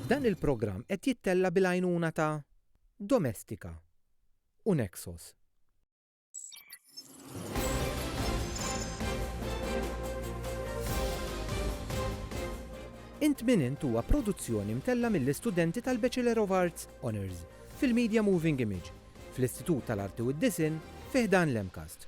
Dan il-programm qed jittella' bil-għajnuna ta' Domestika u Nexos. Int Min Int huwa produzzjoni mtella' mill-istudenti tal-Bachelor of Arts, Honours, fil-Media Moving Image, fl-Istitut tal-Arti u d-Disinn, fi ħdan l-MCAST.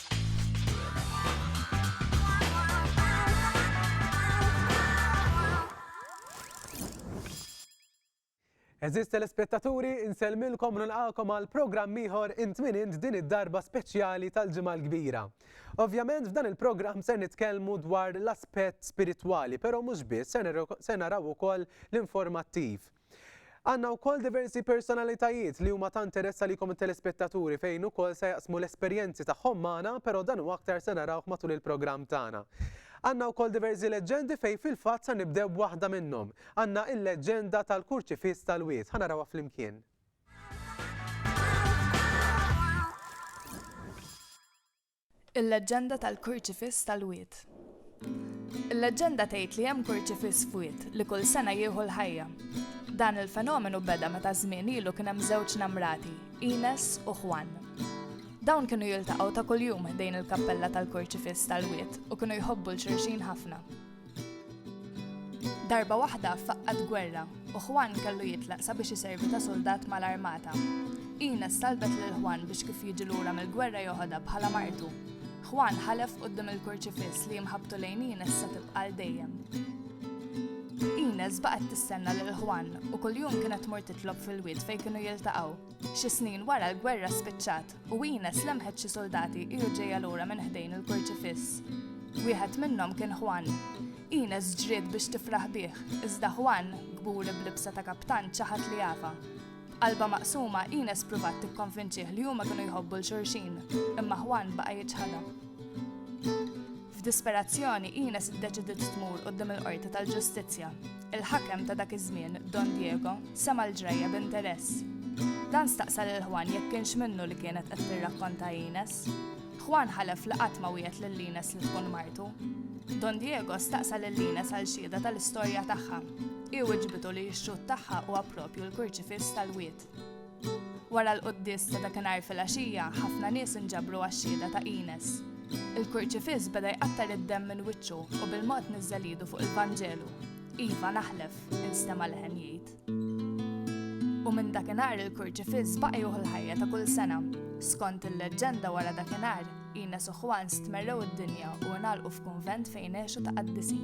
Għeżież telespettaturi, insellmilkom u nilqagħkom għal programm ieħor int min int din id-darba speċjali tal-Ġimgħa l-Kbira. Ovvjament f'dan il-programm se nitkellmu dwar l-aspett spiritwali, però mhux biss se naraw ukoll l-informattiv. Għandna wkoll diversi personalitajiet li huma ta' interess għalikom it-telespettaturi fejn ukoll se jaqsmu l-esperjenzi tagħhom magħna però dan u aktar se narawh matul il-programm tagħna. Għandna wkoll diversi leġġendi fejn fil-fatt sa nibdew b'waħda minnhom. Għandna il-leġġenda tal-kurċifiss tal-wied. Ħa narawha flimkien. Il-leġġenda tal-kurċifiss tal-wied. Il-leġġenda tgħid li hemm kurċifiss f'wied li kull sena jieħu l-ħajja. Dan il-fenomenu beda meta żmien ilu kien hemm żewġ namrati, Ines u Juan. Dawn kienu jiltaqgħu ta' kuljum ħdejn il-kappella tal-kurċifiss tal-wied u kienu jħobbu 'l xulxin ħafna. Darba waħda faqqat gwerra u Juan kellu jitlaq sabiex iservi ta' suldat mal-armata. Ines talbet lil Juan biex kif jiġi lura mill-gwerra joħodha bħala martu. Juan ħalef quddiem il-kurċifiss li imħabbtu lejn Ines se tibqa' għal dejjem. Ines baqgħet tistenna lil Juan u kuljum kienet tmur titlob fil-wied fejn kienu jiltaqgħu. Xi snin wara l-gwerra spiċċat U Ines lemħet xi suldati ilu ġejja lura minn ħdejn il-kurċifiss. Wieħed minnhom kien Juan. Ines ġriet biex tifraħ bih, iżda Juan, kburi b'libsa ta' kaptan, ċaħat li jafa. B'qalba maqsuma, Ines pruvat tikkonvinċih li huma kienu jħobbu l-xurxin, imma Juan baqa' jiċħadha. F'disperazzjoni, Ines iddeċidiet tmur quddiem il-Qorti tal-Ġustizzja. Il-ħakem ta' dak iż-żmien, Don Diego, sema' l-ġrajja b'interess. Dan staqsa lil Juan jekk kienx minnu li kienet qed tirrakkonta Ines. Juan ħalef li qatt ma wiegħed lil Ines li tkun martu. Don Diego staqsa lil Ines għal xhieda tal-istorja tagħha. Hi wiġbitu li x-xhud tagħha huwa proprju l-kurċifiss tal-wied. Wara l-quddies ta' dakinhar filgħaxija, ħafna nies inġabru għax-xhieda ta' Ines. Il-kurċifiss beda jqattar id-demm minn wiċċu u bil-mod niżżel idu fuq il-Vanġelu. Iva, naħlef, instema' leħen jgħid. U minn dakinhar il-kurċifiss baqa' juħu l-ħajja ta' kull sena. Skont il-leġġenda wara dakinhar, Ines u Juan stmerrew id-dinja u ngħalqu f'kunvent fejn għexu ta' qaddisin.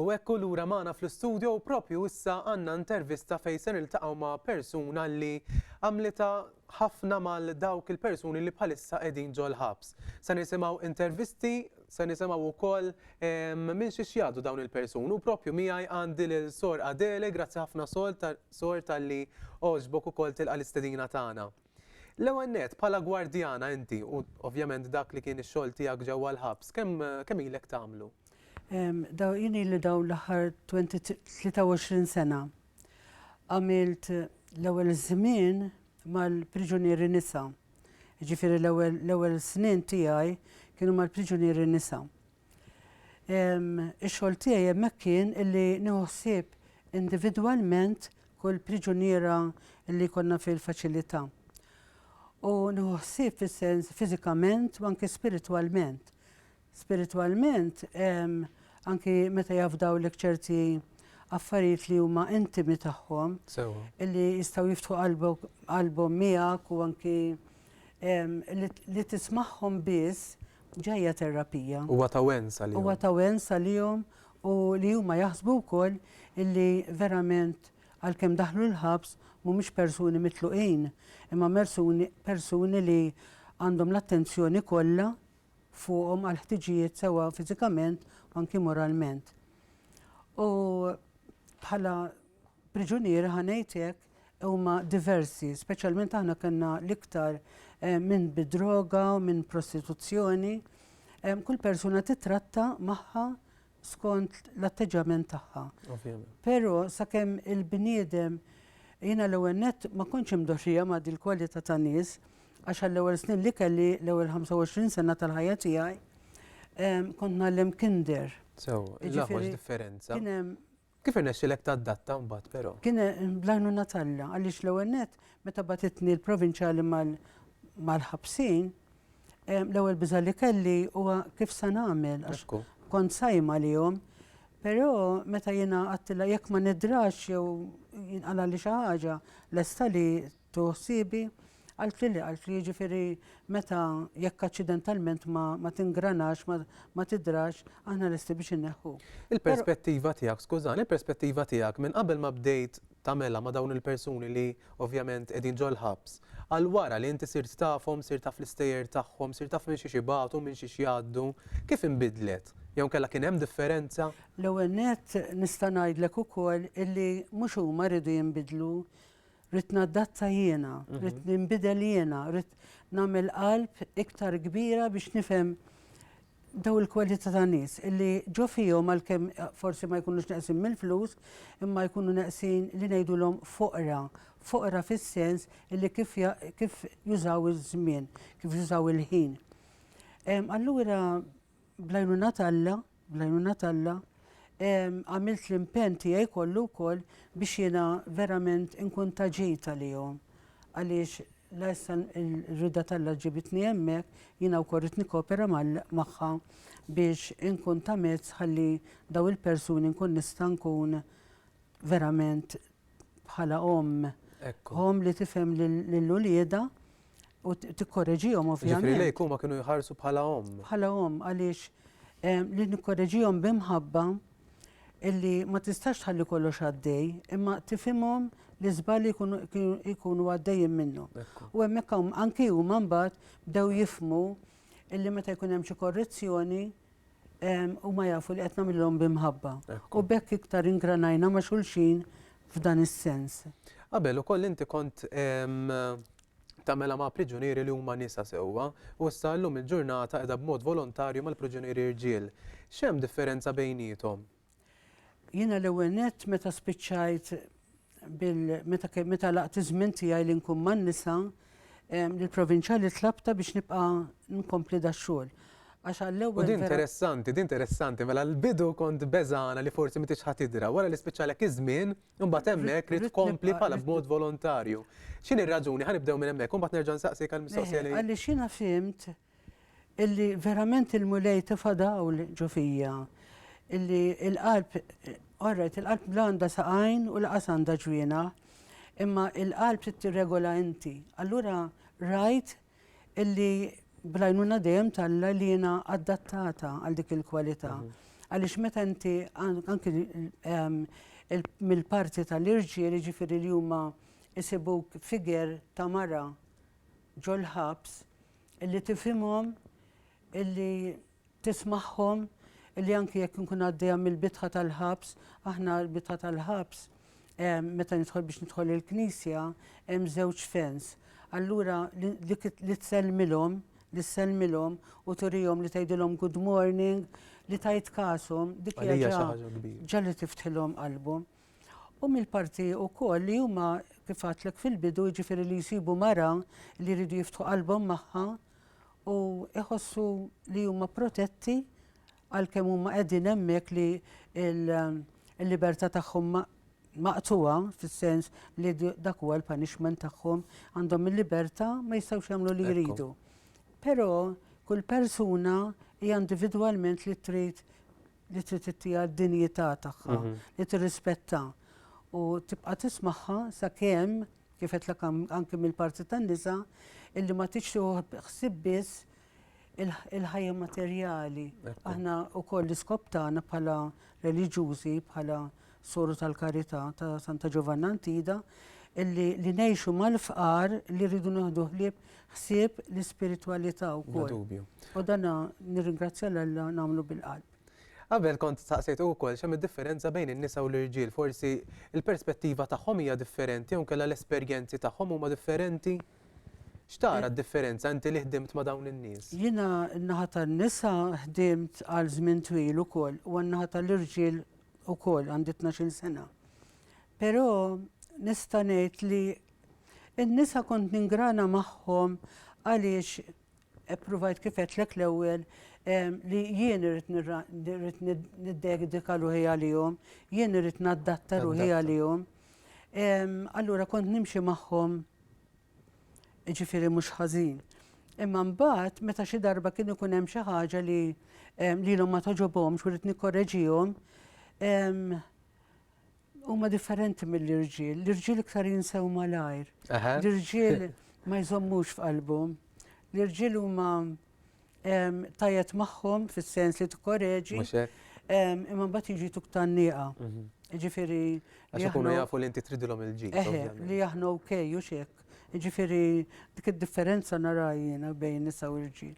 U hekk hu lura magħna fl-istudio u propju issa għandna intervista fejn se niltaqgħu ma' persuna li għamlita ħafna mal dawk il-persuni li bħalissa qegħdin ġol-ħabs. Se nisimgħu intervisti, se nisimgħu wkoll ehm, minn xi xjadu dawn il-persuni u propju miegħi għandi lil Sor Adele, grazzi ħafna Sor tal-li oġbok ukoll tilqa' l-istedina tagħna. L-ewwel nett, bħala gwardjana inti, u ovvjament dak li kien ix-xogħol tiegħek ġewwa l-ħabs, kemm kemm ilek tagħmlu? Daw jien ili dawn l-aħħar 23 sena. Għamilt l-ewwel żmien mal-priġunieri nisa. Jiġifieri l-ewwel l-ewwel snin tiegħi kienu mal-priġunieri nisa. Ix-xogħol tiegħi hemmhekk kien illi nieħu ħsieb individwalment kull priġuniera li jkollna fil-faċilità. U nieħu ħsieb fis-sens fiżikament u anke spiritwalment. Spiritwalment anki meta jafdaw lek ċerti affarijiet li huma intimi tagħhom illi jistgħu jiftħu qalbhom miegħek u anki li tismagħhom biss ġejja terapija. Huwa ta' wens għalihom. Huwa ta' wens għalihom u li huma jaħsbu wkoll illi verament għalkemm daħlu l-ħabs mhumiex persuni mitluqin imma mersuni persuni li għandhom l-attenzjoni kollha fuqhom għall-ħtiġijiet sewwa fiżikament u anki moralment. U bħala priġuniera ħa ngħid hekk, huma diversi, speċjalment aħna kellna l-iktar eh, minn bidroga, minn prostituzzjoni. Eh, kull persuna titratta magħha skont l-atteġġament tagħha. Però sakemm il-bniedem jiena l-ewwel nett ma kontx imdoxija ma' dil kwalità ta' nies għax għall-ewwel snin li kelli l-ewwel 25 sena tal-ħajja tiegħi kont nagħlem kinder. Sew, l differenza. Kien hemm Kif irnexxielek tadatta mbagħad però? Kien bl-għajnuna t'Alla għaliex l-ewwel nett meta bagħtitni l-provinċjali mal-ħabsin, l-ewwel biża' li kelli huwa kif se nagħmel għax kont sajjma għalihom. Però meta jiena għedtilha jekk ma nidrax jew jinqalagħli xi ħaġa lesta li Tu ħsiebi? Qalt li le, qalt li jiġifieri meta jekk aċċidentalment ma, ma tingranax, ma, ma tidrax, aħna lesti biex inneħħu. Il-perspettiva tiegħek, skużani, il-perspettiva tiegħek minn qabel ma bdejt tagħmela ma' dawn il-persuni li ovvjament qegħdin ġol-ħabs, għal wara li inti sirt tafhom, sirt taf l-istejjer tagħhom, sirt taf minn xiex ibatu, minn xiex jgħaddu, kif inbidlet? Jew inkella kien hemm differenza? L-ewwel nett nista' ngħidlek ukoll illi mhux huma rridu jinbidlu, Ridt naddatta jiena, ridt ninbidel jiena, ridt nagħmel qalb iktar kbira biex nifhem daw il-kwalità ta' nies illi ġo fihom għalkemm eh, forsi ma jkunux neqsin mill-flus, imma jkunu neqsin li ngħidulhom foqra, foqra fis-sens illi kif, kif jużaw iż-żmien, kif jużaw il-ħin. Allura Bl-għajnuna t'Alla, bl-għajnuna t'Alla, għamilt l-impenn tiegħi kollu wkoll biex jiena verament inkun ta' ġid għalihom. Għaliex la issa l-rida t'Alla ġibitni hemmhekk, jiena wkoll rid nikkopera magħha biex inkun ta' mezz ħalli daw il-persuni nkun nista' nkun verament bħala omm, omm li tifhem lil uliedha u tikkoreġihom ovvjament. Ġifieri lejk huma kienu jħarsu bħala omm. Bħala omm għaliex eh, li nikkoreġihom b'imħabba illi ma tistax tħalli kollox għaddej, imma tifimhom li żbali jkunu għaddejjin minnu. U hemmhekk anki huma mbagħad bdew jifmu illi meta jkun hemm xi korrezzjoni huma jafu li qed nagħmilhom bi mħabba. U b'hekk iktar ingranajna ma' xulxin f'dan is-sens. Qabel ukoll inti kont tagħmilha ma' priġunieri li huma nisa sewwa u issa llum il-ġurnata qiegħda b'mod volontarju mal-priġunieri rġiel. X'hemm differenza bejniethom? Jiena l-ewwel nett meta spiċċajt bil meta meta laqt iż-żmien tiegħi li nkun man-nisa, lill-provinċjali tlabtha biex nibqa' nkompli dax-xogħol. Għax għall-ewwel. U din interessanti, din interessanti, mela l-bidu kont beżgħana li forsi m'intix ħa tidra, wara li spiċċalek iż-żmien, imbagħad hemmhekk rid tkompli bħala b'mod volontarju. X'inhi r-raġuni? Ħa nibdew minn hemmhekk u mbagħad nerġa' nsaqsik għall-mistoqsija li. Għaliex jiena fhimt Illi verament il-Mulej tefa' dawl ġo fija. Illi il-qalb, orrajt, il-qalb la għandha saqajn u laqas għandha ġwiena, imma il-qalb trid tirregola inti. Allura rajt illi bl-għajnuna dejjem t'Alla li jiena adattata għal dik il-kwalità. Għaliex meta inti anki mill-parti tal-irġiel, jiġifieri li huma jsibuk figher ta' mara ġol-ħabs, Illi tifhimhom, illi tismagħhom, illi anki jekk inkun għaddejja mill-bitħa tal-ħabs, aħna l-bitħa tal-ħabs, meta nidħol biex nidħol il-knisja, hemm żewġ fens. Allura dik li tsellmilhom, li tsellmilhom u turihom li tgħidilhom good morning, li tajt kasom, dik hija ġa li tiftħilhom qalbhom. U mill-parti wkoll li huma kif għadtlek fil-bidu jiġifieri li jsibu mara li jridu jiftħu qalbhom magħha u jħossu li huma protetti għalkemm huma qegħdin hemmhekk li l-libertà tagħhom maqtuha fis-sens li dak huwa l-punishment tagħhom għandhom il-libertà ma jistgħux jagħmlu li jridu. Però kull persuna hija individwalment li trid li trid ittiha d-dinjità tagħha, li tirrispettha u tibqa' tismagħha sakemm kif qedlek anke mill-parti tan-nisa illi ma tix ħsieb biss il-ħajja materjali. Aħna wkoll l-iskop tagħna bħala reliġjużi, bħala Soru tal-Karità ta' Santa Ġovanna Antida, illi li ngħixu mal-fqar li rridu naħdu ħlieb ħsieb l-ispiritwalità wkoll. U dan nirringrazzja l Alla nagħmlu bil-qalb. Qabel kont saqsejt ukoll x'hemm id-differenza bejn in-nisa u l-irġiel, forsi l-perspettiva tagħhom hija differenti jew kellha l-esperjenzi tagħhom huma differenti. X'tara d-differenza inti li ħdimt ma' dawn in-nies? Jiena n-naħa tan-nisa ħdimt għal żmien twil ukoll u n-naħa tal-irġiel ukoll għandi 12 sena. Però nista' ngħid li n-nisa kont ningrana magħhom għaliex eppruvajt kifet lek l-ewwel li jien irrit niddedika ruħi għalihom, jien irrit naddatta ruħi għalihom. Allura kont nimxi magħhom Jiġifieri mhux ħażin. Imma mbagħad meta xi darba kien ikun hemm xi ħaġa li ehm, lilhom ma toġobhomx u rrid nikkoreġihom, ehm, huma differenti mill-irġiel. L-irġiel iktar jinsew malajr. L-irġiel ma jżommux f'qalbhom. L-irġiel huma tajet magħhom fis-sens li tikkoreġi. Imma mbagħad jiġi tuk tan-nieqa. Mhm. Ġifieri. Għax ikunu jafu li inti tridilhom il-ġid. Li aħna ok u xek. Ġifieri dik id-differenza narajjina bejn nisa u rġiel.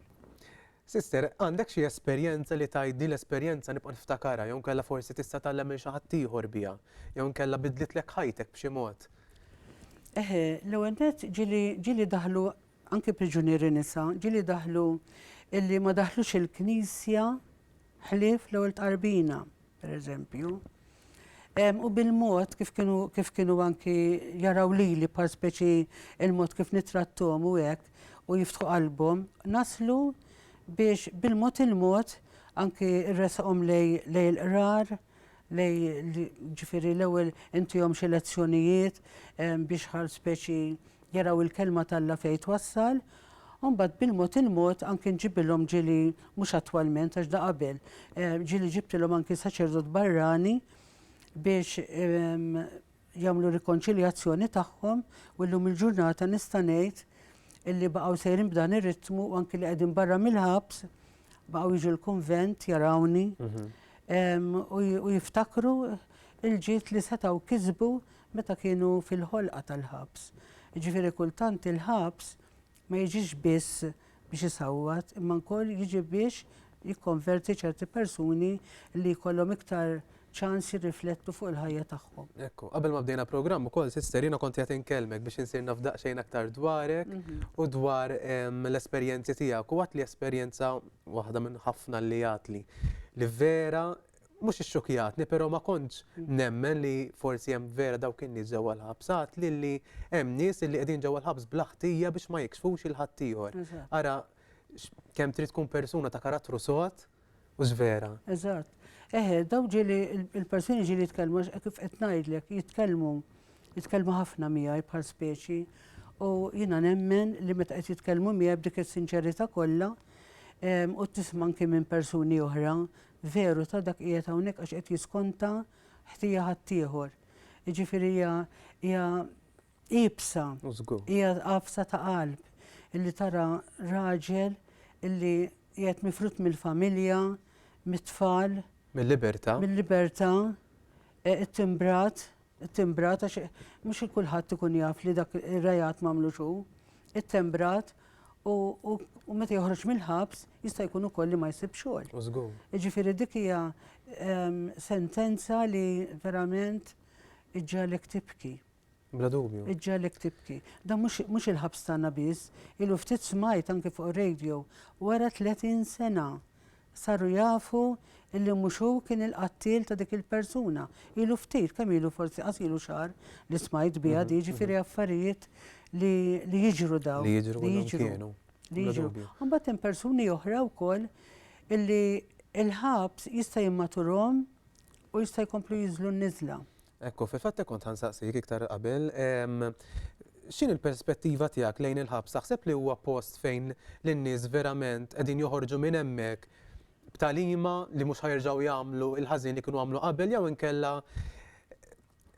Sister, għandek xi esperjenza li tajt din l-esperjenza nibqa' niftakarha jew kella forsi tista' tgħallem minn xi ħadd ieħor biha, jew kella bidlitlek ħajtek b'xi mod. Eħe, l-ewwel ġili daħlu anki priġunieri nisa, ġieli daħlu illi ma daħlux il-Knisja ħlief l-ewwel tqarbina, pereżempju. U bil-mod kif kienu kif kienu anki jaraw lili bħal speċi il-mod kif nitrattom u hekk u jiftħu qalbhom, naslu biex bil-mod il-mod anki rresqhom lej il-qrar, ġifieri l-ewwel intihom xi lezzjonijiet biex bħal speċi jaraw il-kelma t'Alla fejn twassal, u mbagħad bil-mod il-mod anki nġibilhom ġieli mhux attwalment għax da qabel, ġieli ġibtilhom anki saċerdot barrani biex jagħmlu rikonċiljazzjoni tagħhom u llum il-ġurnata nista' ngħid illi baqgħu sejrin b'dan ir-ritmu u anki li qegħdin barra mill-ħabs baqgħu jiġu l-kunvent jarawni mhm. u jiftakru il-ġiet li setgħu kisbu meta kienu fil-ħolqa tal-ħabs. Ġifieri kultant il-ħabs ma jiġix biss biex isawwat imma wkoll jiġi biex jikkonverti ċerti persuni li jkollhom iktar ċans jirriflettu fuq il-ħajja tagħhom. Ekku, qabel ma bdejna programm ukoll sister jiena kont qiegħed inkellmek biex insir naf daqsxejn aktar dwarek u dwar l-esperjenzi tiegħek u għadt li esperjenza waħda minn ħafna li għadt li li vera mhux ixxukjatni, però ma kontx nemmen li forsi hemm vera dawk in-nies ġewwa l-ħabs. Għad lilli hemm nies li qegħdin ġewwa l-ħabs bla ħtija biex ma jikxfux il ħaddieħor. Ara kemm trid tkun persuna ta' karattru sod u żvera. Eżatt. Eħe, daw ġieli il-persuni ġieli jitkellmu kif qed ngħidlek, jitkellmu jitkellmu ħafna miegħi bħal speċi u jiena nemmen li meta qed jitkellmu miegħi b'dik is-sinċerità kollha u tisma' anke minn persuni oħra veru ta' dak qiegħed hawnhekk għax qed jiskonta ħtija ħaddieħor. Jiġifieri hija hija iebsa, hija għafsa ta' qalb illi tara raġel illi qiegħed mifrud mill-familja, mit-tfal, mill-libertà, mill-libertà, e, it-timbrat, It-timbrat, għax mhux kulħadd ikun jaf li dak ir-reat m'għamlux hu, ittembrat u meta joħroġ mill-ħabs jista' jkun ukoll li ma jsibx xogħol. Żgur. Jiġifieri dik hija ehm, sentenza li verament iġġalek tibki. Bla dubju. Iġġalek tibki. Da mhux il-ħabs tagħna biss, ilu ftit smajt anke fuq radio wara 30 sena Saru jafu illi mhux hu kien il-qattiel ta' dik il-persuna. Ilu ftit, kemm ilu forsi qas ilu xahar li smajt biha di, ġifieri affarijiet li li jiġru dawn. Li jiġru li jiġru. Li jiġru. Imbagħad hemm persuni oħra wkoll illi l-ħabs jista' jimmaturhom u jista' jkomplu jinżlu n-niżla. Ekku, fil-fatt hekk kont ħansaqsik iktar qabel, ehm, x'inhi l-perspettiva tiegħek lejn il-ħabs? Taħseb li huwa post fejn lin-nies verament qegħdin joħorġu minn hemmhekk b'talima li mhux ħajerġgħu jagħmlu il-ħażin li kienu għamlu qabel jew inkella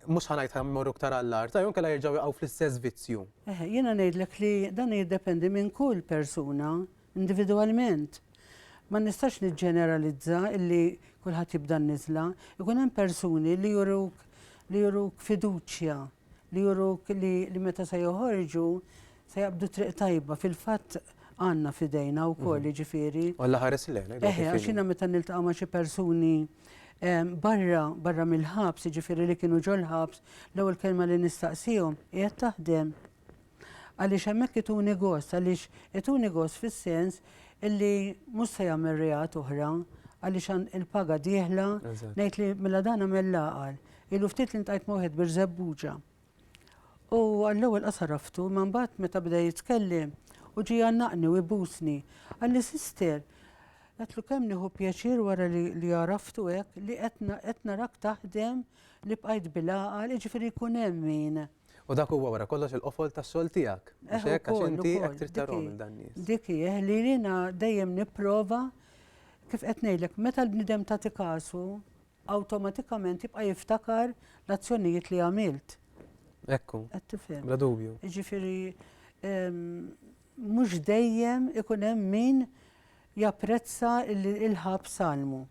mhux ħanajt ħammorru iktar għall-art, jew inkella jerġgħu jaqgħu fl-istess vizzju. Eħe, jiena ngħidlek li dan jiddependi minn kull persuna individwalment. Ma nistax niġġeneralizza illi kulħadd jibda n-niżla. Ikun hemm persuni li juruk li juruk fiduċja, li juruk li li meta se joħorġu se jaqbdu triq tajba. Fil-fatt għandna f'idejna wkoll, mhm. jiġifieri. U Alla ħares lejn. Eħe, għax jiena meta niltaqa' ma' xi persuni barra, barra mill-ħabs, jiġifieri li kienu ġol-ħabs, l-ewwel kelma li nistaqsihom, qiegħed taħdem? Għaliex hemmhekk ituni gost, għaliex ituni gost fis-sens illi mhux se jagħmel reat oħra għaliex għan il-paga dieħla, ngħid li mela dan għamel l-għaqal. Ilu ftit li ntajt ma' wieħed Birżebbuġa. U għall-ewwel qasar raftu, ma mbagħad meta bda jitkellem u ġie jgħannaqni u jbusni. Għalli sister, għatlu kemm nieħu pjaċir wara li li għaraftu hekk li qed narak taħdem li bqajt bil-għaqal, jiġifieri jkun hemm min. U dak huwa wara kollox il-qofol tas-sol tiegħek. Mhux eh, hekk għax inti hekk trid tarhom il dan nies. Dik hi eh, li jiena dejjem nipprova kif qed ngħidlek meta l-bnidem ta' tikasu awtomatikament jibqa' jiftakar l-azzjonijiet li għamilt. Ekku. Qed tifhem. Bla dubju. Jiġifieri mhux dejjem ikun hemm min japprezza il-ħab salmu.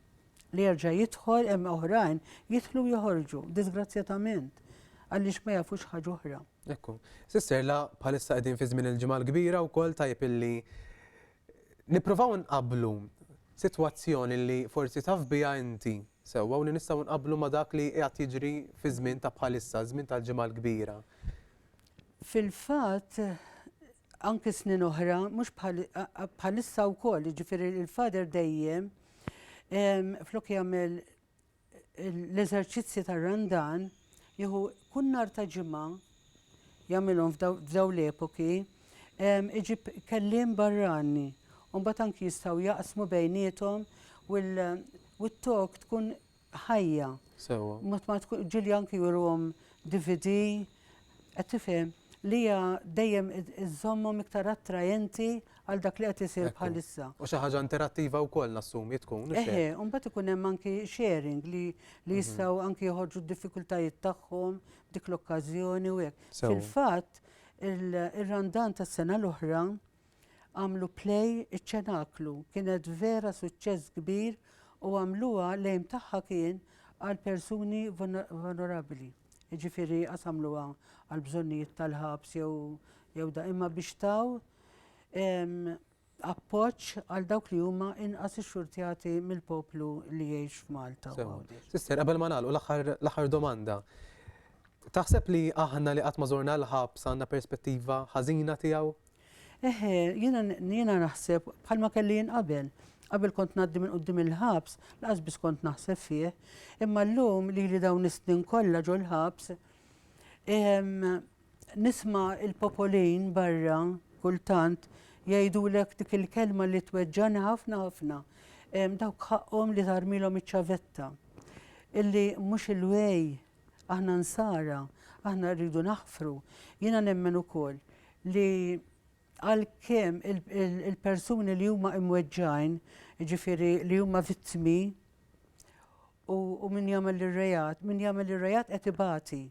li jerġa' jidħol hemm oħrajn jidħlu joħorġu, disgrazzjatament, għaliex ma jafux ħaġa oħra. Ekku. Sister, la bħalissa qegħdin fi żmien il-ġimgħa l-kbira wkoll tajb illi nippruvaw nqablu sitwazzjoni li forsi taf biha inti sewwa u li nistgħu nqablu ma' dak li qiegħed jiġri fi żmien ta' bħalissa, żmien tal-ġimgħa l-kbira. Fil-fatt, anki snin oħra, mhux bħalissa wkoll, jiġifieri il-Father dejjem Flok jagħmel l-eżerċizzji tar-Randan, jieħu kull nhar ta' ġimgħa jagħmilhom f'daw l-epoki, iġib kelliem barrani, u mbagħad anki jistgħu jaqsmu bejniethom u t-talk tkun ħajja. Sewwa. Mod ma tkun Ġulja anki juruhom DVD, qed tifhem, li hija dejjem iżżommhom iktar attraenti għal dak li qed isir bħalissa. U xi ħaġa interattiva wkoll nassumi tkun. Eħe, u mbagħad ikun hemm anki sharing li li jistgħu anki joħorġu d-diffikultajiet tagħhom dik l-okkażjoni u hekk. Fil-fatt, ir-Randan tas-sena l-oħra għamlu play iċ-Ċenaklu kienet vera suċċess kbir u għamluha l-aim tagħha kien għal persuni vulnerabbli. Jiġifieri qas għamluha għal bżonnijiet tal-ħabs jew jew da imma biex taw appoġġ għal dawk li huma inqas ixxurtjati mill-poplu li jgħix f'Malta. Sister, qabel ma nagħlqu l-aħħar domanda. Taħseb li aħna li qatt ma żorna l-ħabs għandna perspettiva ħażina tiegħu? Eħe, jiena jiena naħseb bħalma kelli jien qabel. Qabel kont ngħaddi minn quddiem il-ħabs, lanqas biss kont naħseb fih. Imma llum lili dawn is-snin kollha ġol-ħabs, nisma' l-popolin barra kultant jgħidulek dik il-kelma li tweġġagħni ħafna ħafna. Dawk ħaqqhom li tagħarmilhom iċ-ċavetta. Illi mhux il-way Aħna Nsara, aħna rridu naħfru. Jiena nemmen ukoll li għalkemm il-persuni li huma imweġġgħin, jiġifieri li huma vittmi u min jagħmel ir-reat, min jagħmel ir-reat qed ibati.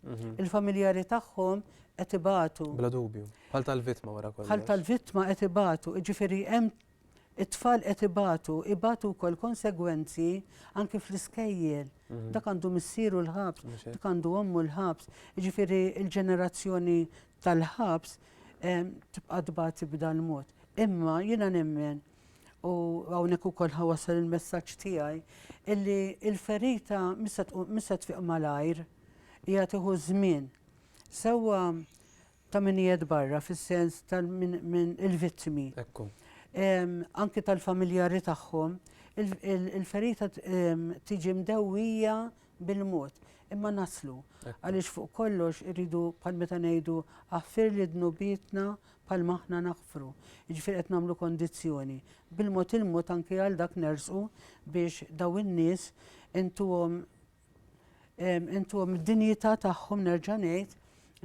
Mhm. Il-familjari tagħhom qed ibatu. Bla dubju, bħal tal-vittma wara kollox. Bħal tal-vittma qed ibatu, jiġifieri hemm It-tfal qed ibatu, ibatu wkoll konsegwenzi anki fl-iskejjel. Dak għandu missieru l-ħabs, dak għandu ommu l-ħabs. Jiġifieri l-ġenerazzjoni tal-ħabs tibqa' tbati b'dan mod. Imma jiena nemmen u hawnhekk ukoll ħa wasal il-messaġġ tiegħi illi l-ferita mhix se tfiq malajr, hija tieħu żmien. Sewwa ta' min qiegħed barra fis-sens ta' min il-vittmi. Ekku. Anki tal-familjari tagħhom, il-ferita tiġi mdewwija bil-mod. Imma naslu. Għaliex fuq kollox irridu bħal meta ngħidu aħfirli dnubietna bħalma aħna naħfru. Jiġifieri qed nagħmlu kondizzjoni. Bil-mod il-mod anki għal dak nersqu biex dawn in-nies intuhom intuhom id-dinjità tagħhom nerġa' ngħid,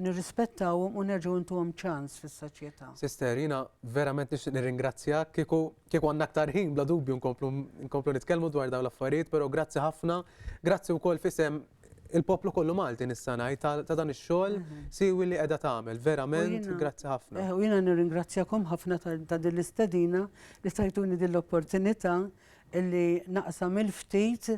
nirrispettawhom u nerġgħu intuhom ċans fis-soċjetà. Sister, jiena verament nixtieq nirringrazzjak, kieku kieku għandna aktar ħin bla dubju nkomplu nkomplu nitkellmu dwar dawn l-affarijiet, però grazzi ħafna, grazzi wkoll f'isem il-poplu kollu Malti nista' ngħid ta' ta' dan ix-xogħol siwi li qiegħda tagħmel, verament jiena- grazzi ħafna. Eh, U jiena nirringrazzjakom ħafna ta' ta' din l-istedina li tajtuni din l-opportunità li naqsam il-ftit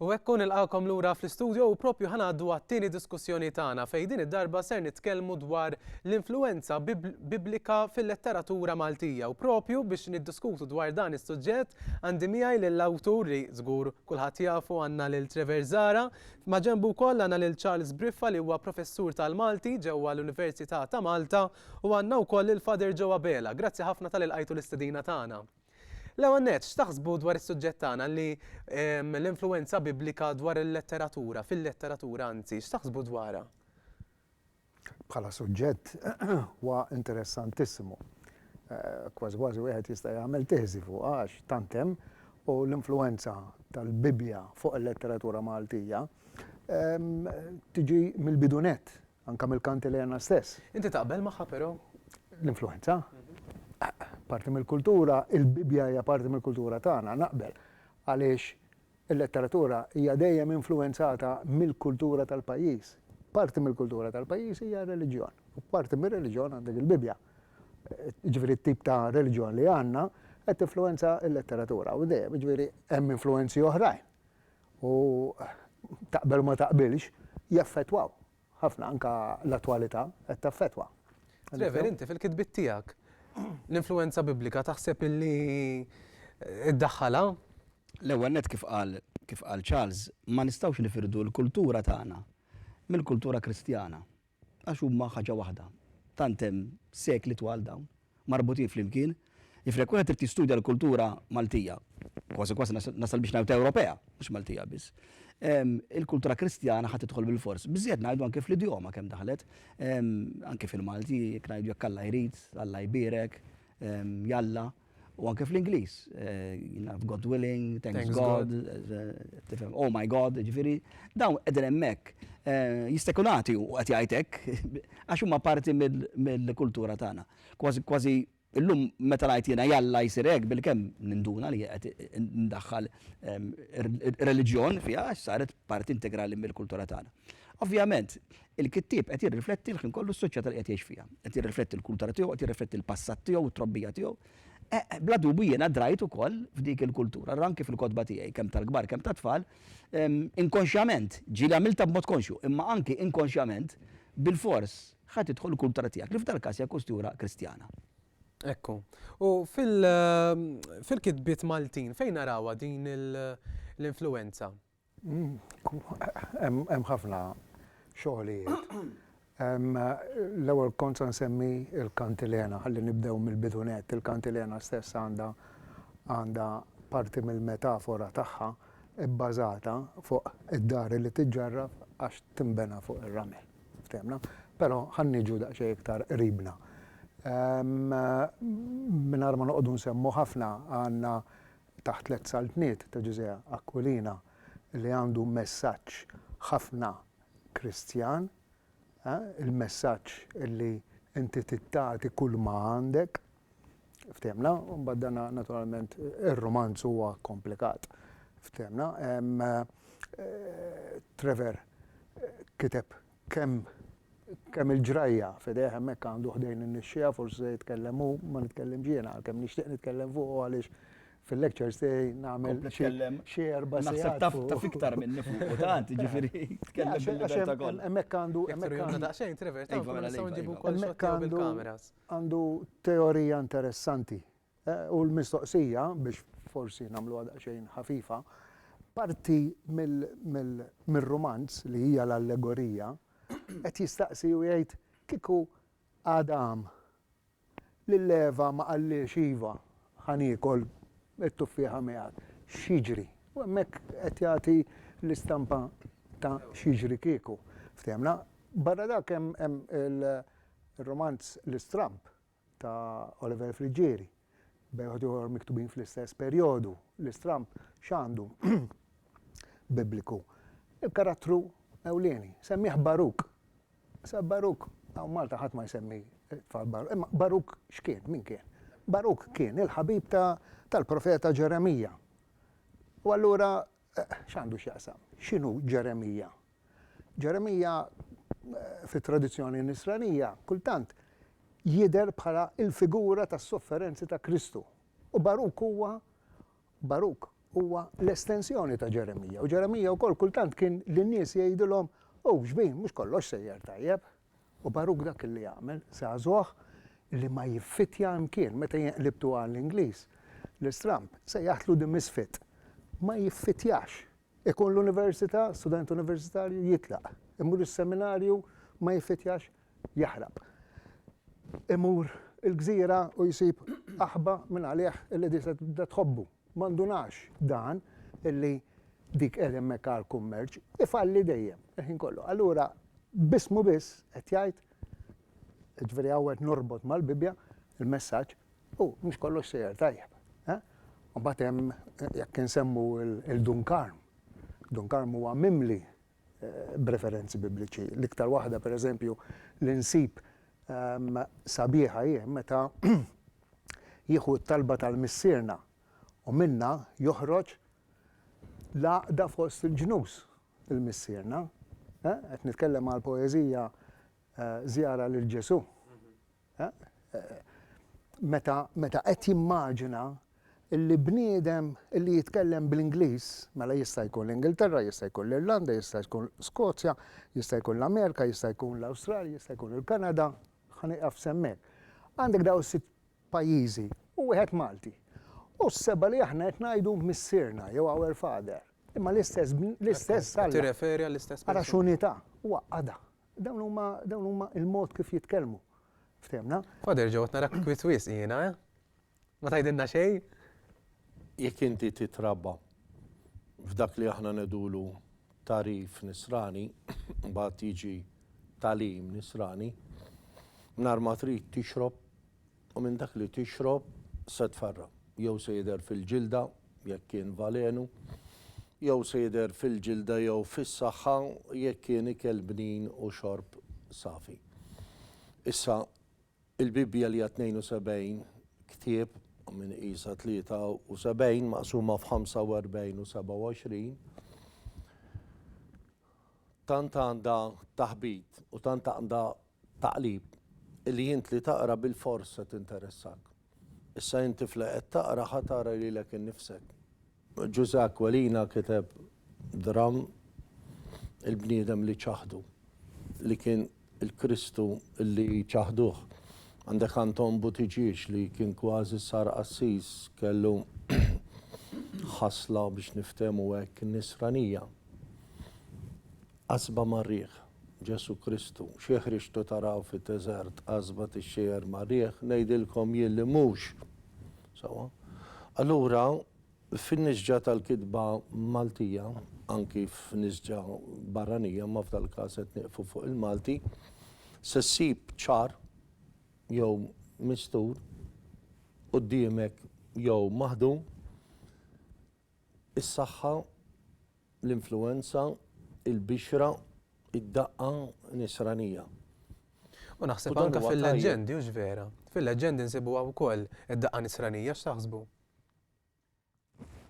U hekk nilqakom lura fl-istudio u propju ħanaddu għat-tieni diskussjoni tagħna fejn din id-darba ser nitkellmu dwar l-influenza biblika fil-letteratura Maltija u propju biex niddiskutu dwar dan is-suġġett għandi miegħi lill-awtur li żgur kulħadd jafu għandna lil Trevor Zara ma' ġembu wkoll għandna lil Charles Briffa li huwa professur tal-Malti ġewwa l-Università ta' Malta U għandna wkoll lil Father Joe Abela. Grazzi ħafna tal ilqajtu l-istedina tagħna. L-ewwel nett, x'taħsbu dwar is-suġġett tagħna li l-influwenza Biblika dwar il-letteratura, fil-letteratura anzi, x'taħsbu dwarha? Bħala suġġett huwa interessantissimu. Kważi kważi wieħed jista' jagħmel teżi fuqha għax tant hemm u l-influwenza tal-Bibbja fuq il-letteratura Maltija tiġi mill-bidu nett Anke mill-kanti li għandna stess. Inti taqbel magħha però? L-influwenza? Parti mill-kultura, il-Bibbja hija parti mill-kultura tagħna, naqbel. Għaliex il-letteratura hija dejjem influwenzata mill-kultura tal-pajjiż. Parti mill-kultura tal-pajjiż hija r-reliġjon. U parti mir-reliġjon għandek il-Bibbja. Jiġifieri t-tip ta' reliġjon li għandna qed tinfluwenza l-letteratura. U dejjem, jiġifieri hemm influwenzi oħrajn. u taqbel u ma taqbilx, jaffettwaw ħafna, anke l-attwalità qed taffettwa. Trevor, inti fil-kitbiet tiegħek l-influwenza Biblika taħseb illi ddaħħalha? L-ewwel nett kif qal kif qal Charles, ma nistgħux nifirdu l-kultura tagħna mill-kultura Kristjana. Għax huma ħaġa waħda. Tant hemm sekli twal dawn, marbutin flimkien. Jiġifieri jekk wieħed irid jistudja l-kultura Maltija, kważi kważi nasal biex ngħid Ewropea, mhux Maltija biss, il-kultura Kristjana ħa tidħol bilfors. Biżżejjed ngħidu anke fl-idjoma kemm daħlet, anke fil-Malti, jekk ngħidu jekk Alla jrid, Alla jbierek, jalla. U anke fl-Ingliż, God willing, thanks God, tifhem, oh my God, ġifieri, dawn qegħdin hemmhekk jistekulati u qed jgħid hekk għax huma parti mill-kultura tagħna. Kważi kważi illum meta ngħid jiena jalla jsir hekk bilkemm ninduna li qed indaħħal ir-reliġjon fiha għax saret parti integrali mill-kultura tagħna. Ovvjament, Il-kittieb qed jirrifletti l-ħin kollu s-soċjetà li qed jgħix fiha. Qed jirrifletti l-kultura tiegħu, qed jirrifletti l-passat tiegħu u t-trobbija tiegħu. Bla dubju jiena drajt ukoll f'dik il-kultura, ra anki fil-kotba tiegħi, kemm tal-kbar kemm tat-tfal, inkonxjament, ġieli għamiltha b'mod konxju, imma anki inkonxjament, bilfors, ħa tidħol il-kultura tiegħek, li f'dal-każ hija kustura Kristjana. Ekku. U fil-kitbiet Maltin fejn narawha din l-influwenza? Hemm ħafna xogħlijiet. L-ewwel kont se nsemmi l-kantilena, ħalli nibdew mill-bidu nett. Il-kantilena stess għandha għandha parti mill-metafora tagħha bbażata fuq id-dar li tiġġarraf għax tinbena fuq ir-ramel. Ftehimna? Però ħa niġu daqsxejn iktar qribna. Mingħajr ma noqogħdu nsemmu ħafna għandna taħt tliet saltniet ta' Ġużè Aquilina li għandu messaġġ ħafna Kristjan, il-messaġġ li inti trid tagħti kull ma għandek. Fthimna? U mbagħad dan naturalment ir-rumanz huwa komplikat. Fthimna? Trevor kiteb Kemm, kemm il-ġrajja f'idejh hemmhekk għandu ħdejn in-nixxiegħa, forsi se jitkellem hu, ma nitkellimx jiena għalkemm nixtieq nitkellem fuqu għaliex fil-lectures tiegħi nagħmel xi, xi erba' sigħat fuqu. Naħseb taf, taf iktar minni fuqu tant, jiġifieri tkellem bil-libertà kollha. Hemmhekk għandu, hemmhekk għandu. Jekk daqsxejn Trevor, taf, nistgħu nġibu wkoll xi ħadd mill-kameras. Hemmhekk għandu, għandu teorija interessanti U l-mistoqsija, biex forsi nagħmluha daqsxejn ħafifa, parti mir-rumanz li hija l-allegorija qed jistaqsi u jgħid kieku Adam lil Eva ma qallhiex iva, ħa niekol it-tuffieħa miegħek, x'jiġri? U hemmhekk qed jagħti l-istampa ta' x'jiġri kieku. Ftehimna? Barra dak hemm ir-rumanz L-Istramb ta' Oliver Friggieri, bejħut ieħor miktubin fl-istess perjodu, l-istramb x'għandu Bibliku? Il-karattru ewlieni, semmih Baruk. Sa Baruk, hawn Malta ħadd ma jsemmi tfal Baruk, imma Baruk x'kien, min kien? Baruk kien il-ħabib tal-profeta Ġeremija. U allura X'għandu x'jaqsam? X'inhu Ġeremija? Ġeremija fit-tradizzjoni Nisranija kultant jidher bħala l-figura tas-sofferenzi ta' Kristu. U Baruk huwa Baruk huwa l-estensjoni ta' Ġeremija. U Ġeremija wkoll kultant kien lin-nies jgħidilhom, Hu x'bin, mhux kollox sejjer tajjeb. U Baruk dak illi għamel, żagħżugħ li ma jiffitja imkien, meta jinqlibtu għal Ingliż, l-istramb, sejjaħtlu the misfit, ma jiffitjax. Ikun l-università, student universitarju, jitlaq. Imur is-seminarju, ma jiffitjax, jaħrab. Imur il-gżira u jsib aħba minn għalih illi diġà tibda tħobbu. Ma ndunax dan li dik qiegħda hemmhekk għall-kummerċ? Ifalli dejjem, il-ħin kollu. Allura b'ismu biss qed jgħid, jiġifieri hawn qed norbot mal-Bibbja l-messaġġ, u mhux kollox sejjer tajjeb. U mbagħad hemm jekk insemmu l-Dun Karm. Dun Karm huwa mimli b'referenzi Bibliċi. L-iktar waħda, per eżempju, li nsib sabiħa hi meta jieħu t-talba tal-Missierna u minnha joħroġ l-għaqda fost il-ġnus, il-Missierna. Qed nitkellem għal poeżija Żjara lil Ġesù. Meta qed jimmaġina li bniedem li jitkellem bl-Ingliż, mela jista' jkun l-Ingilterra, jista' jkun l-Irlanda, jista' jkun Skozja, jista' jkun l-Amerika, jista' jkun l-Awstralja, jista' jkun il-Kanada, ħa nieqaf s'hemmhekk. Għandek dawn is-sitt pajjiżi u wieħed Malti. U s-seba' li aħna qed ngħidu Missierna jew Our Father. Imma l-istess, l-istess Alla. Tirreferi għall-istess persuna. Ara x'unità. Huwa qada. Dawn huma, dawn huma l-mod kif jitkellmu. Ftehmna? Father Joe, qed narak kwiet wisq jiena, eh? Ma tgħidilna xejn? Jekk inti titrabba f'dak li aħna ngħidulu tagħrif nisrani, mbagħad jiġi tagħlim nisrani, nhar ma trid tixrob U minn dak li tixrob se tfarra'. Jew se jidher fil-ġilda, jekk kien valenu, jew se jidher fil-ġilda jew fis-saħħa, jekk kien ikel bnin u xorb safi. Issa, il-Bibbja li hija 72 ktieb, min iqisha 73 maqsuma f'45 u 27, tant għandha taħbit u tant għandha Taqlib, li int li taqra bilfors se tinteressak. Issa int tifla qed taqra ħa tara lilek innifsek. Ġużè Aquilina kiteb dramm Il-bniedem li ċaħdu, li kien il-Kristu li ċaħduh. Għandek Anton Buttigieg li kien kważi sar qassis, kellu ħasla biex niftehmu hekk nisranija. Qasba mar-riħ, Ġesù Kristu, xi ħriġtu taraw fid-deżert qasba tixxejjer mar-riħ? Ngħidilkom jien li mhux. Sewwa. Allura, fin-nisġa tal-kitba Maltija, anki f'nisġa barranija, imma f'dal-każ qed nieqfu fuq il-Malti, se ssib ċar jew mistur quddiemek jew maħdum Is-saħħa, l-influwenza, il-bixra, id-daqqa nisranija. U naħseb anke fil-leġġendi, hux vera? Fil-leġġendi nsibuha wkoll id-daqqa nisranija, x'taħsbu?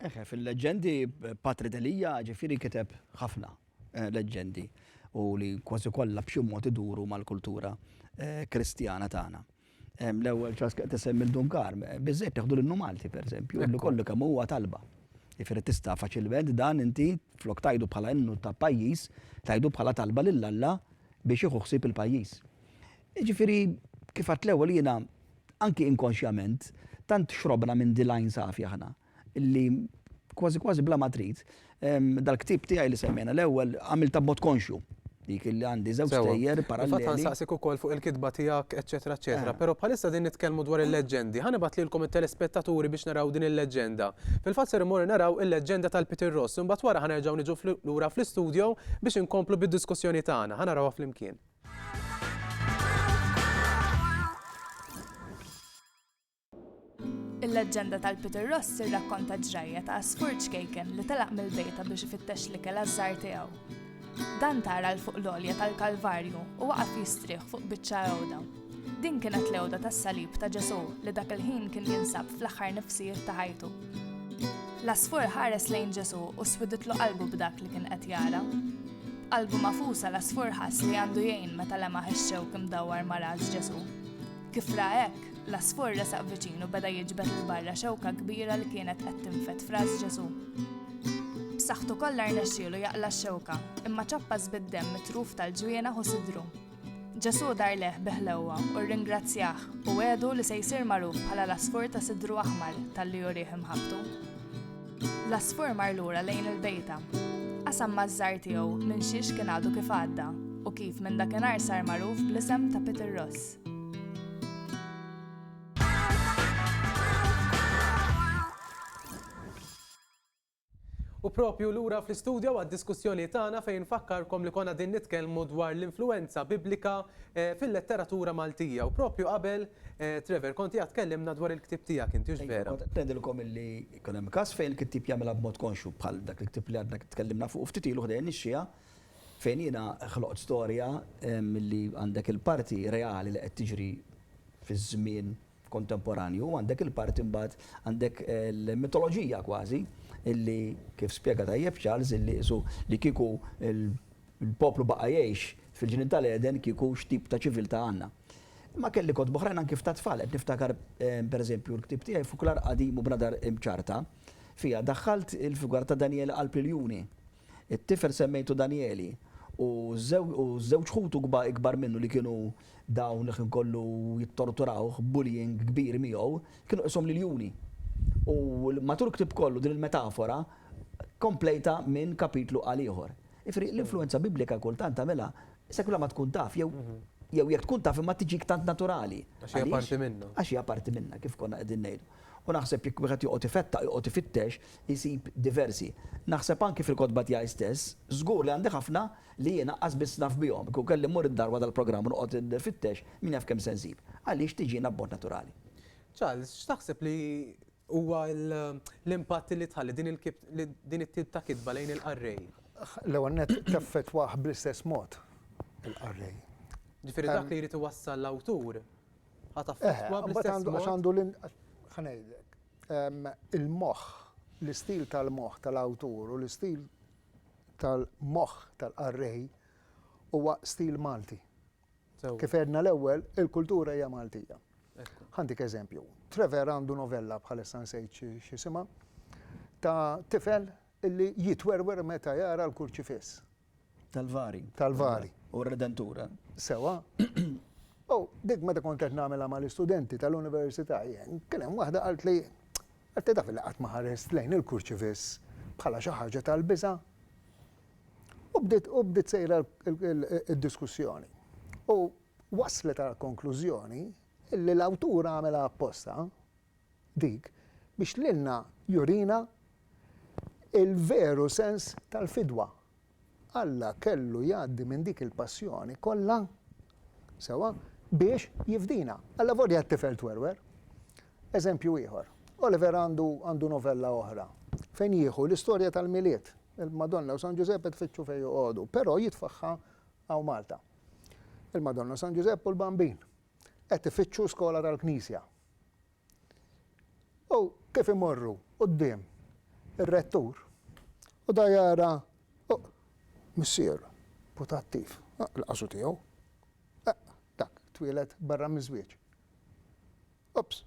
Eħe, fil-leġġendi Patri Delia ġifieri kiteb ħafna. leġġendi u li kważi kollha b'xi mod iduru mal-kultura Kristjana tagħna. L-ewwel ċask qed isemmi l-Dun Kar, biżżejjed teħdu l-innu Malti pereżempju, li kollu kemm huwa talba. Jifieri tista' faċilment dan inti flok tgħidu bħala innu ta' pajjiż, tgħidu bħala talba lil Alla biex jieħu ħsieb il-pajjiż. Jiġifieri kif għedt l-ewwel jiena anki inkonxjament tant xrobna minn din l-għajn safi aħna. li kważi kważi bla ma trid, dal-ktieb tiegħi li semmejna l-ewwel għamiltha b'mod konxju. Dik li għandi żewġ stejjer paralleli. Fatt nsaqsik ukoll fuq il-kitba tiegħek, eċetera, eċetera. Però bħalissa din nitkellmu dwar il-leġġendi. Ħa nibgħat lilkom it-telespettaturi biex naraw din il-leġġenda. Fil-fatt ser immorru naraw il-leġġenda tal-Peter Ross. Imbagħad wara ħa nerġgħu niġu lura fl-istudio biex inkomplu bid-diskussjoni tagħna. Ħa narawha flimkien. Il-leġġenda tal-Peter Ross tirrakkonta ġrajja ta' għasfur ċkejken li telaq mill-bejta biex ifittex l-ikel għaż-żgħar tiegħu. Dan tara l fuq l-olja tal-Kalvarju u waqaf jistrieħ fuq biċċa għewda. Din kienet l-għewda tas-salib ta' Ġesu li dak il-ħin kien jinsab fl-aħħar nifsijiet ta' ħajtu. L-asfur ħares lejn Ġesu u swiditlu qalbu b'dak li kien qed jara. Qalbu mafusa l-asfur ħass li għandu jgħin meta lemaħ ix-xewk imdawwar ma' ras Ġesu. Kif ra hekk, l-għasfur resaq viċin u beda jiġbed il barra xewka kbira li kienet qed tinfed f'ras Ġesù. B'saħħtu kollha rnexxielu jaqla x-xewka, imma ċappas bid-demm mitruf tal-ġwiena u sidru. Ġesù dar leħ biħlewwa u rringrazzjah u għedu li se jsir magħruf bħala l-asfur ta' sidru aħmar tal-li jurih imħabtu. L-asfur mar lura lejn il-bejta. Qasam maż-żar tiegħu minn xiex kien għadu kif għadda u kif minn dakinhar sar magħruf bl-isem ta' Peter Ross. U propju lura fl-istudja għad-diskussjoni tagħna fejn fakkarkom li konna din nitkellmu dwar l-influenza biblika eh, fil-letteratura Maltija. U propju qabel, eh, Trevor, konti għad tkellimna dwar il-ktib tiegħek inti vera. Tnedilkom illi kun hemm każ fejn il-kittib jagħmilha b'mod konxu bħal dak il-ktib li għadna tkellimna fuq ftit ilu ħdejn ix-xija Fejn jiena ħloqt storja milli għandek il-parti reali li qed tiġri fiż-żmien kontemporanju u għandek il-parti mbagħad għandek il-mitoloġija kważi illi kif spjega tajjeb Charles illi qisu li kieku l-poplu baqa' jgħix fil-Ġnien tal-Għeden kieku x'tip ta' ċiviltà għandna. Imma kelli kotba oħrajn anki f'ta' tfal, qed niftakar pereżempju l-ktieb tiegħi Fuklar Qadim u Bnadar Imċarrta, fiha daħħalt il-figura ta' Danjel Qalb l-Iljuni. It-tifel semmejtu Danjeli, u ż-żewġ ħutu ikbar minnu li kienu dawn li ħin kollu jittorturawh b'bullying kbir miegħu, kienu qishom l-iljuni. U matul il-ktieb kollu din il-metafora komplejtha minn kapitlu għal ieħor. Jiġifieri l-influwenza Biblika kultant tagħmilha sa kemm la ma tkun taf jew jew jekk tkun taf imma tiġik tant naturali. Għax hija parti minna. Għax hija parti minna kif konna qegħdin ngħidu. U naħseb jekk wieħed joqgħod ifettaq, joqgħod ifittex, isib diversi. Naħseb anki fil-kotba tiegħi stess, żgur li għandi ħafna li jien aqqas biss naf bihom. Kieku kelli mmur id-dar wara dal-programm u noqgħod infittex, min jaf kemm se nsib. Għaliex tiġina b'mod naturali. Charles, x'taħseb li huwa l-impatt li tħalli din it-tip ta' kitba lejn il-qarrej? L-ewwel nett taffettwah bl-istess mod il-qarrej. Ġifieri dak li jrid iwassal l-awtur, ħa taffettwah bl-istess mod? Eħe, imbagħad għandu, għax għandu l-, ħa ngħidlek. il-moħħ, l-istil tal-moħħ tal-awtur u l-istil tal-moħħ tal-qarrej huwa stil Malti. Kif għedna l-ewwel, il-kultura hija Maltija. Ħantik eżempju, Trevor għandu novella bħalissa nsejt x'isimha ta' tifel illi jitwerwer meta jara l-kurċifiss. Tal-vari. Tal-vari. U r-Redentur. Sewa. U dik meta kont qed nagħmilha mal-istudenti tal-università jien, kien hemm waħda qalt li qed taf li qatt ma ħarest lejn il-kurċivis bħala xi ħaġa tal-biża'. U bdiet u bdiet sejra d-diskussjoni. U waslet għal konklużjoni li l-awtur għamilha apposta dik biex lilna jurina l-veru sens tal-fidwa. Alla kellu jgħaddi minn dik il-passjoni kollha, sewwa, biex jifdina, allavolja t-tifel twerwer. Eżempju ieħor, Oliver għandu għandu novella oħra fejn jieħu l-istorja tal-Milied, il-Madonna u San Ġużepp qed ifittxu fejn joqogħdu, però jitfagħha hawn Malta. Il-Madonna, San Ġużepp u l-Bambin qed ifittxu skola tal-Knisja. U kif imorru quddiem ir-rettur u da jara missier putattiv, il-qaswa tiegħu, dak twieled barra miż-żwieġ. Ups!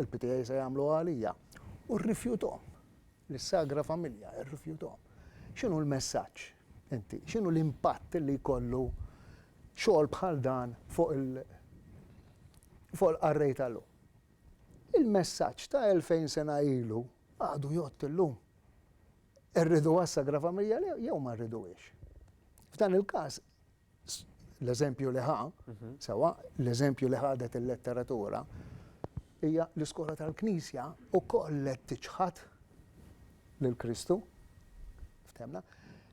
Il-PTA se jagħmluha għalija. U rrifjuthom. Lis-Sagra Familja rrifjuthom. X'inhu l-messaġġ inti? X'inhu l-impatt li jkollu xogħol bħal dan fuq il fuq il-qarrej ta' llum? Il-messaġġ ta' elfejn sena ilu għadu jgħodd illum. Irriduha s-Sagra Familja jew ma rriduhiex? F'dan il-każ l-eżempju li ħa, sewwa, l-eżempju li ħadet il-letteratura, hija l-iskola tal-Knisja wkoll qed tiċħad lil Kristu. Ftemna?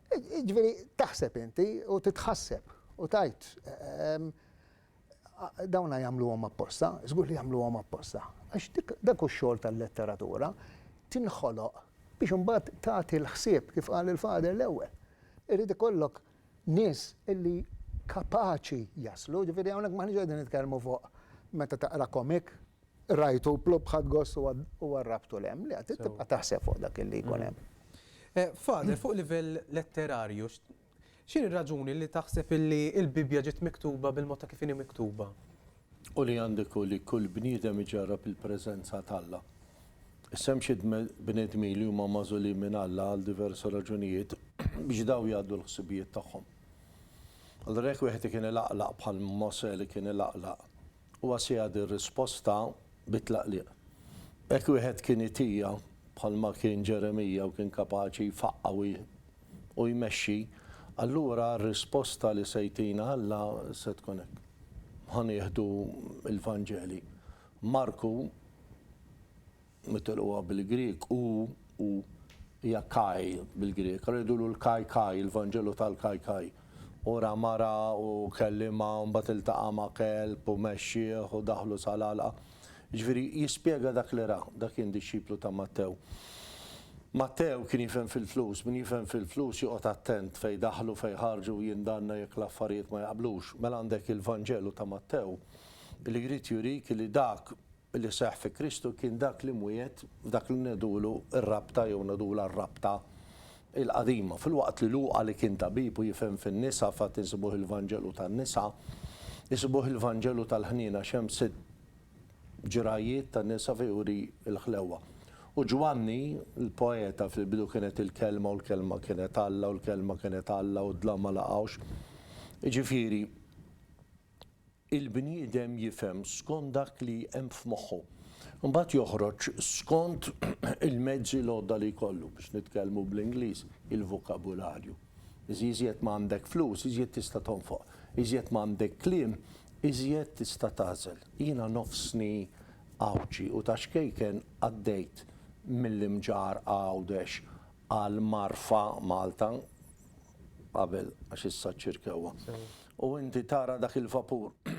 Ġifieri taħseb inti u titħasseb u tajt ehm, dawna jagħmluhom apposta, żgur li jagħmluhom apposta. Għax dak xogħol tal-letteratura tinħoloq biex imbagħad tagħti l-ħsieb kif qal il-fader l-ewwel. Irid ikollok nies li kapaċi jaslu, jiġifieri hawnhekk m'aħniex qegħdin nitkellmu fuq meta taqra komik, rajtu plupp ħadt gost u għarrabtu 'l hemm, le, trid tibqa' taħseb fuq dak li jkun hemm. Father, fuq livell letterarju, x'inhi r-raġuni li taħseb li l-Bibbja ġiet miktuba bil-mod ta' kif inhi miktuba? U li għandek hu li kull bniedem iġarrab il-preżenza t'Alla. Issa hemm xi bnedmin li huma magħżulin minn Alla għal diversi raġunijiet biex dawn jgħaddu l-ħsibijiet tagħhom. Allura jekk wieħed ikien ilaqlaq bħal Mosè li kien ilaqlaq, huwa se jagħti r-risposta bi tlaqliq. Jekk wieħed kien itija, bħalma kien Ġeremija u kien kapaċi jfaqqa' u u jmexxi, allura r-risposta li se jtina Alla se tkun hekk. Ħa nieħdu l-Vanġeli. Marku, nitilquha bil-Grieg, u, u, hija kai bil-Grieg. Allura jgħidulu l-kai kai, il-Vanġelu tal-kai kai. U ra mara u kellimha u mbagħad iltaqa' ma' kelb u mexxieh u daħlu sal-għalqa. Jiġifieri, jispjega dak li ra, dak kien dixxiplu ta' Mattew. Mattew kien jifhem fil-flus, min jifhem fil-flus joqgħod attent fejn jdaħħlu, fejn jħarġu u jindanna jekk l-affarijiet ma jaqblux. Mela għandek il-Vanġelu ta' Mattew li jrid jurik li dak li seħħ fi Kristu kien dak li mwiegħed f'dak li ngħidulu r-rabta jew ngħidulha r-rabta il-Qadima. Filwaqt li Luqa li kien tabib u jifhem fin-nisa fatt insibuh il-Vanġelu tan-nisa, isibuh il-Vanġelu tal-ħniena għax hemm sitt ġrajjiet ta' nisa fejn juri l-ħlewwa. U Ġwanni, l-poeta, fil-bidu kienet il-Kelma u l-Kelma kienet Alla u l-Kelma kienet Alla u d-dlam ma laqgħux. Jiġifieri. il-bniedem jifhem skont dak li hemm f'moħħu. Imbagħad joħroġ skont il-mezzi l-għodda li jkollu, biex nitkellmu bl-Ingliż, il-vokabularju. Iżjed ma għandek flus, iżjed tista' tonfoq. Iżjed ma għandek kliem, iżjed tista' tagħżel. Jiena nofsni Għawdxi u ta' xkejken għaddejt mill-Imġarrqa Għawdex għal Marfa, Malta. qabel għax issa ċ-ċirkewwa. U inti tara dak il-vapur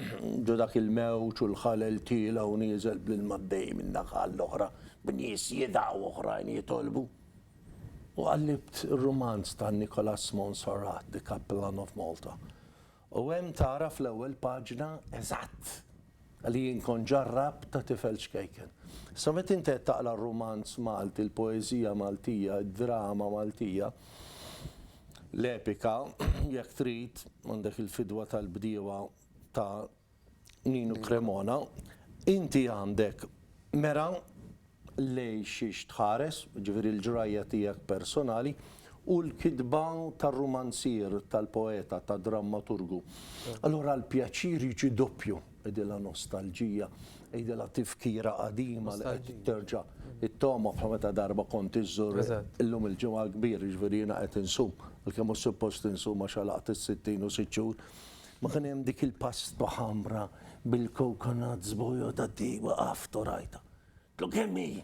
ġo dak il-mewġ u l-ħalel tiela' u nieżel bl-ilma għaddej minn naħa għall-oħra b'nies jidgħu oħrajn jitolbu. U qallibt ir-rumanz ta' Nicholas Monsarrat, The Capellan of Malta. U hemm tara fl-ewwel paġna eżatt li jien kont ġarrabt ta' tifel ċkejken. Issa meta inti qed taqra r-rumanz Malti, l-poeżija Maltija, id-drama Maltija, l-epika jekk trid, għandek il-fidwa tal-bdiewa ta' Ninu Cremona, Inti għandek mera lejn xiex tħares, jiġifieri l-ġrajja tiegħek personali, u l-kitba tar-rumanzier, tal-poeta, tad-drammaturgu. Allura l-pjaċir jiġi doppju, għidilha nostalġija, għidilha tifkira qadima li qed terġa' ttoma' bħal meta darba kont iżżur illum il-ġimgħa l-kbir, jiġifieri jiena qed insum, għalkemm mhux suppost insum għax għalaqt is-sittin u sitt xhur. Ma kien hemm dik il-pasta ħamra bil-coconut żbojota di waqaft u rajtha. Għedtlu kemm hi?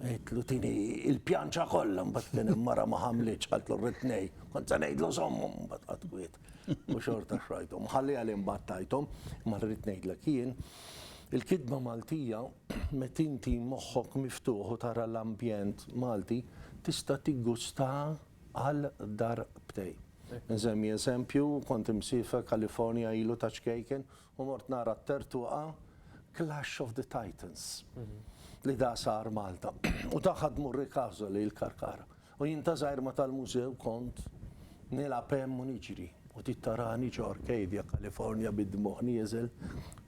Għedtlu tieni il-pjanċa kollha mbagħad kien hemm mara ma ħamlitx qaltlu rrid tnejn. Kont se ngħidlu żommhom mbagħad qatt kwiet u xorta xrajthom. Ħalliha li mbagħad tajthom imma rrid ngħidlek jien il-kitba Maltija meta inti moħħok miftuħ u tara l-ambjent Malti tista' tiggustaha għal darbtejn. Insemmi eżempju, kont imsiefer California ilu ta' ċkejken u mort nara t-tertuqa Clash of the Titans li da sar Malta u da ħadmu r-Ricaso li l-Karkara. U jien ta' żgħir ma tal-mużew kont nilgħab hemm u niġri u tit tarani ġo Arcadia, California bid-dmugħ nieżel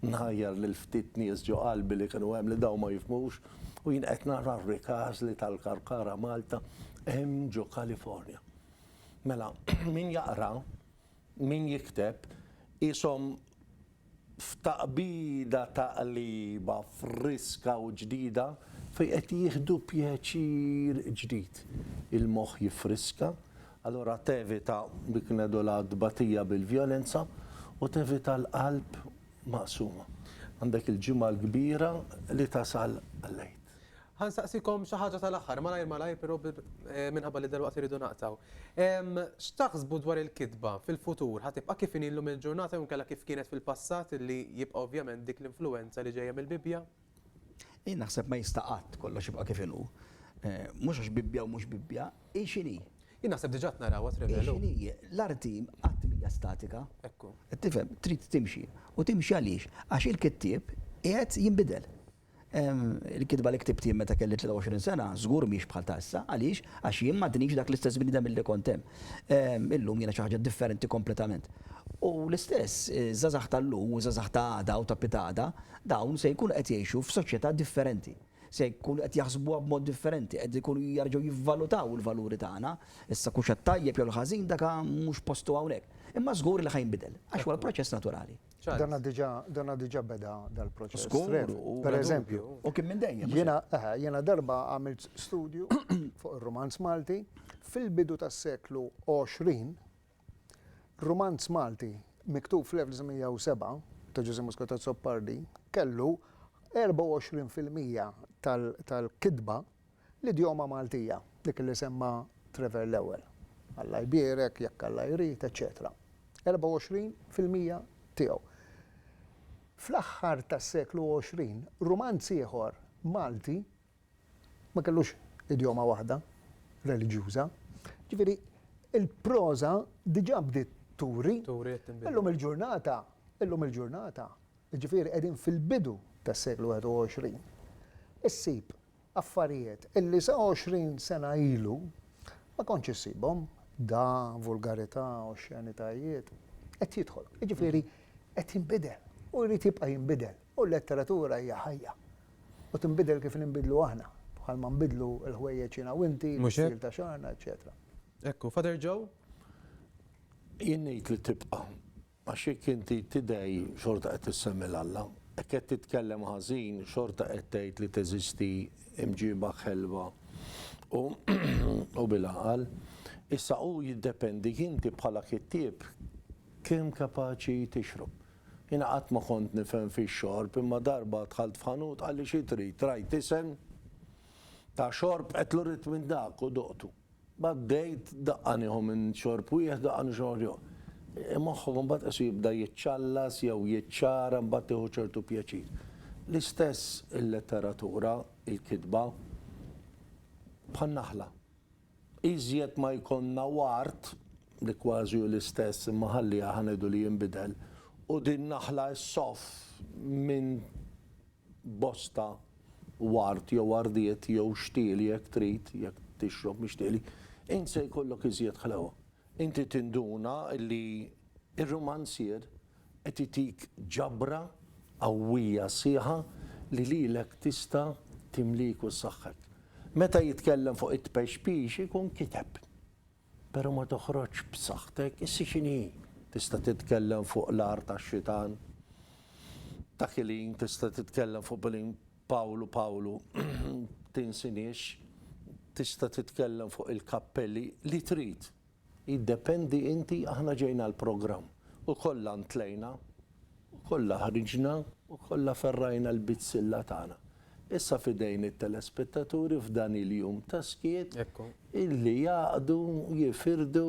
nħajjar lil ftit nies ġo qalbi li kienu hemm li daw ma jifhmux u jien qed nara r-Ricasli tal-Karkara Malta hemm ġo California. Mela, min jaqra, min jikteb, qishom f'taqbida taqliba friska u ġdida fejn qed jieħdu pjaċir ġdid. Il-moħħ jiffriska, allura tevita dik ngħidulha t-tbatija bil-vjolenza u tevita l-qalb maqsuma. Għandek il-Ġimgħa l-Kbira li tasal għall-Għid. Ħa nsaqsikom xi ħaġa tal-aħħar, malajr malajr però minħabba li dalwaqt irridu naqtgħu. X'taħsbu dwar il-kitba fil-futur? Ħa tibqa' kif inhi llum il-ġurnata jew inkella kif kienet fil-passat li jibqa' ovvjament dik l-influwenza li ġejja mill-Bibbja? Jien naħseb ma jista' qatt kollox jibqa' kif inhu. Mhux għax Bibbja u mhux Bibbja, hi x'inhi. Jien naħseb diġà qed narawha trevelu. Hi x'inhi. L-art hi qatt m'hija statika. Ekku. Qed tifhem? Trid timxi. U timxi għaliex? Għax il-kittieb qiegħed jinbidel. Il-kitba li ktibt jien meta kelli 23 sena, żgur mhix bħal ta' issa. Għaliex? Għax jien m'għadnix dak l-istess bniedem milli kont hemm. Illum jiena xi ħaġa differenti kompletament. U l-istess, iż-żgħażagħ tal-lum u ż-żgħażagħ ta' għada u ta' pitgħada, dawn se jkunu qed jgħixu f'soċjetà differenti. Se jkunu qed jaħsbuha b'mod differenti, qed ikunu jerġgħu jivvalutaw il-valuri tagħna. Issa kux għat-tajjeb jew l-ħażin dak mhux postu hawnhekk. Imma żgur li ħa jinbidel, għax huwa l-proċess naturali. Dana diġa, dana diġa beda dal-proċess. Skur, per eżempju. U kien minn dejjem. Jena, eh, jena darba għamilt studju fuq il-romanz Malti fil-bidu tas-seklu 20. Romanz Malti miktub fl-1907 ta' Ġużi Muscatat Soppardi kellu 24% tal-kidba l-idjoma Maltija, dik li semma Trevor l-ewwel, Alla jbierek, jekk Alla jrid, eċċetera. 24 fil-mija tiegħu. Fl-aħħar tas-seklu 20, Rumanz ieħor Malti ma kellux idjoma waħda reliġjuża. Ġifieri, il-proża diġà bdiet turi. Illum il-ġurnata, illum il-ġurnata, jiġifieri qegħdin fil-bidu tas-seklu 21, issib affarijiet illi sa 20 sena ilu ma kontx issibhom, dagħa, vulgarità, oxxenitajiet, qed jidħol. Jiġifieri qed jinbidel u jrid jibqa' jinbidel u l-letteratura hija ħajja u tinbidel kif ninbidlu aħna, bħalma nbidlu l-ħwejjeġ jiena u inti, l-istil ta' xagħarna, eċċetera. Hekk hu. Father Joe? Jien ngħid li tibqa'. Għax jekk inti tidgħi xorta qed issemmi 'l Alla, jekk qed titkellem ħażin xorta qed tgħid li teżisti mġiba ħelwa u bil-għaqal. Issa hu jiddependi inti bħala kittieb kemm kapaċi tixrob. Jiena qatt ma kont nifhem fix-xorb imma darba dħalt f'ħanut qalli xi trid, rajt isem ta' xorb għedtlu rrid minn dak u duqtu. B'għaddejt daqqa nieħu minn xorb wieħed, daqqa minn xorb ieħor. Moħħok imbagħad qisu jibda jiċċallas jew jiċċara imbagħad tieħu ċertu pjaċir. L-istess il-letteratura, il-kitba, bħan-naħla. Iżjed ma jkollna ward, li kważi hu l-istess imma ħalliha ħa ngħidu li jinbidel, u din naħla ssoff minn bosta ward jew wardiet jew xtieli jekk trid, jekk tixrob mix-xtieli, int se jkollok iżjed ħlewwa. Inti tinduna li r-rumanzier qed itik ġabra qawwija sħiħa li lilek tista' timlik u ssaħħek. Meta jitkellem fuq it-tpexpix ikun kiteb. Pero ma toħroġx b'saħħtek, issi x'inhi hi? Tista' titkellem fuq l-agħar tax-xitan? Dak il-ħin tista' titkellem fuq bil-ħin Pawlu Pawlu, tinsiniex, tista' titkellem fuq il-kappelli, li trid. Jiddependi inti, aħna ġejna għall-programm u kollha ntlejna. U kollha ħriġna u kollha ferrajna l-bizzilla tagħna. Issa f'idejn it-telespettaturi f'dan il-jum ta' skiet illi jgħaqqdu, jifirdu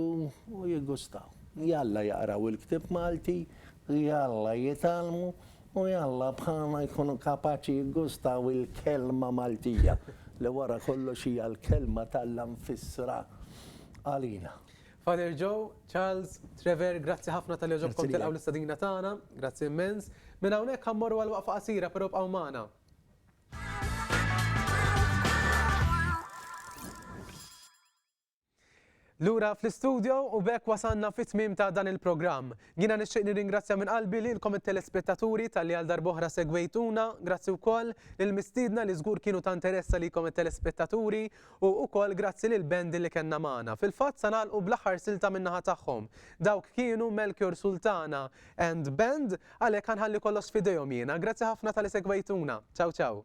u jigustaw. Jalla jaqraw il-ktieb Malti, jalla jitgħallmu u jalla bħalna jkunu kapaċi jigustaw il-kelma Maltija li wara kollox hija l-kelma t'Alla mfissra għalina. Father Joe, Charles, Trevor, grazzi ħafna talli għoġobkom tilqgħu l-istadina tagħna, grazzi immens. Minn hawnhekk ħa mmorru għal waqfa qasira però bqgħu magħna. Lura fl-istudio u bekk wasanna fit tmim ta' dan il-programm. Jina nixtieq nirringrazzja minn qalbi li l-kom telespettaturi tal-li għal darboħra segwejtuna, grazzi wkoll lil mistiedna li żgur kienu ta' interessa li kom telespettaturi U ukoll grazzi lil band li kellna magħna. Fil-fatt sa nagħlqu bl-aħħar silta min-naħa tagħhom. Dawk kienu Melchior Sultana and Band, għalhekk ħa nħalli kollox f'idejhom jiena. Grazzi ħafna ta' li segwejtuna. Ciao ciao.